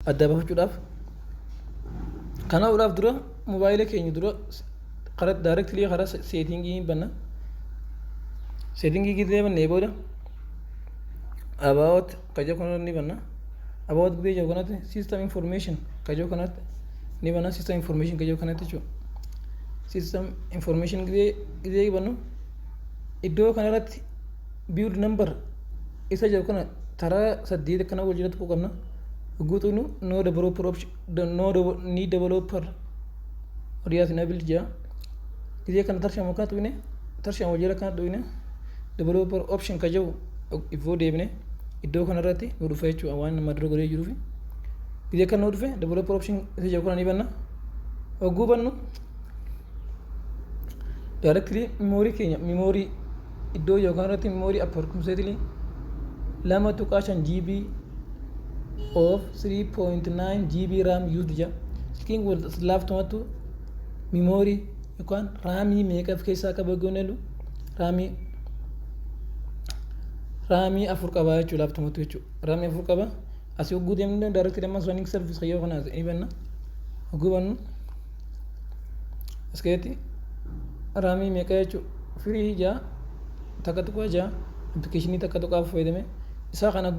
adda bafachuudhaaf kanaa'uudhaaf dura mobaayila keenya dura kara daayirektilii karaa seetingii hin banna seetingii gidee bannee booda about kajoo kanarra ni banna about gidee jiru kanatti system information kajoo kanatti ni banna system information kajoo kanatti jechuudha system information gidee gidee bannu iddoo kanarratti build number isa jedhu kana taraa saddeet akkana wal jala tuquu qabna guutuun no developer option no ni developer audience enabled jaa gisee kana tarshamu kana tuqne tarshamu wal jala kana tuqne developer option ka jedhu ifoo deebine iddoo kanarratti nu dhufa jechuudha waan nama dura godhee jiruufi gisee kan nu dhufe developer option isa jedhu kana ni banna hogguu bannu directly memory keenya memory iddoo yookaan irratti memory upper consequently 2.5 GB of 3.9 GB RAM used jedha. Silkiin kun laaftumattu memory yookaan raamii meeqa of keessaa qaba goone jedhu raamii raamii afur qaba jechuudha laaftumattu jechuudha. Raamii afur qaba. Asii hogguu deemnee daaretti dammas running service yoo kanaas ni banna. Hogguu bannu As keessatti raamii meeqa jechuudha? Firii ijaa takka tuqaa ijaa appilikeeshinii takka tuqaa fayyadame isaa kana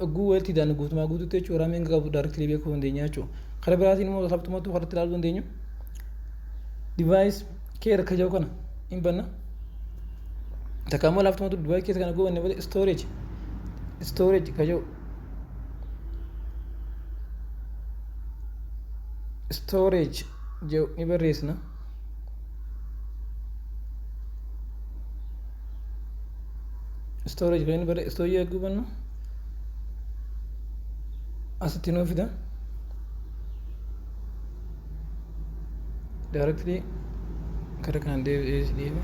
oguu walitti hidhaan guutumaa guutuutti jechuudha raamii hanga qabu daarektilii beekuu dandeenya jechuudha. Karaa biraatiin immoo sabtumatu karatti ilaaluu dandeenyu divaayis keer akka jiru kana hin banna. Takka immoo laaftumatu divaayis keessa kana goone malee istooreeji istooreeji ka jiru storage jedhu ni barreessina storage kan barre storage eeguu bannu asitti nuu fida directly gara kanaan deebi'ee deebi'e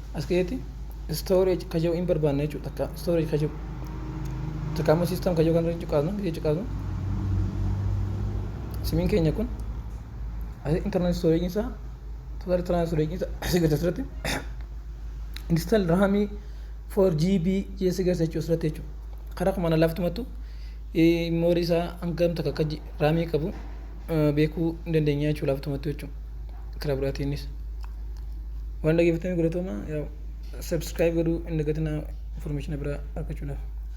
as keessatti storage ka jedhu hin barbaanna jechuudha takka storage ka jedhu takka ammoo system ka jedhu kan irratti cuqaasnu gidee cuqaasnu simiin keenya kun as internal storage isaa total internal storage isaa as gadi asirratti install raamii 4 GB keessa keessa jechuudha asirratti jechuudha karaa kumaan alaaftumattu moorii isaa hangam takka akka raamii qabu beekuu hin dandeenyaa jechuudha laaftumattuu jechuudha karaa biraatiinis waan dhageeffatanii galatoomaa subscribe godhuu hin dagatinaa information biraa argachuudhaaf.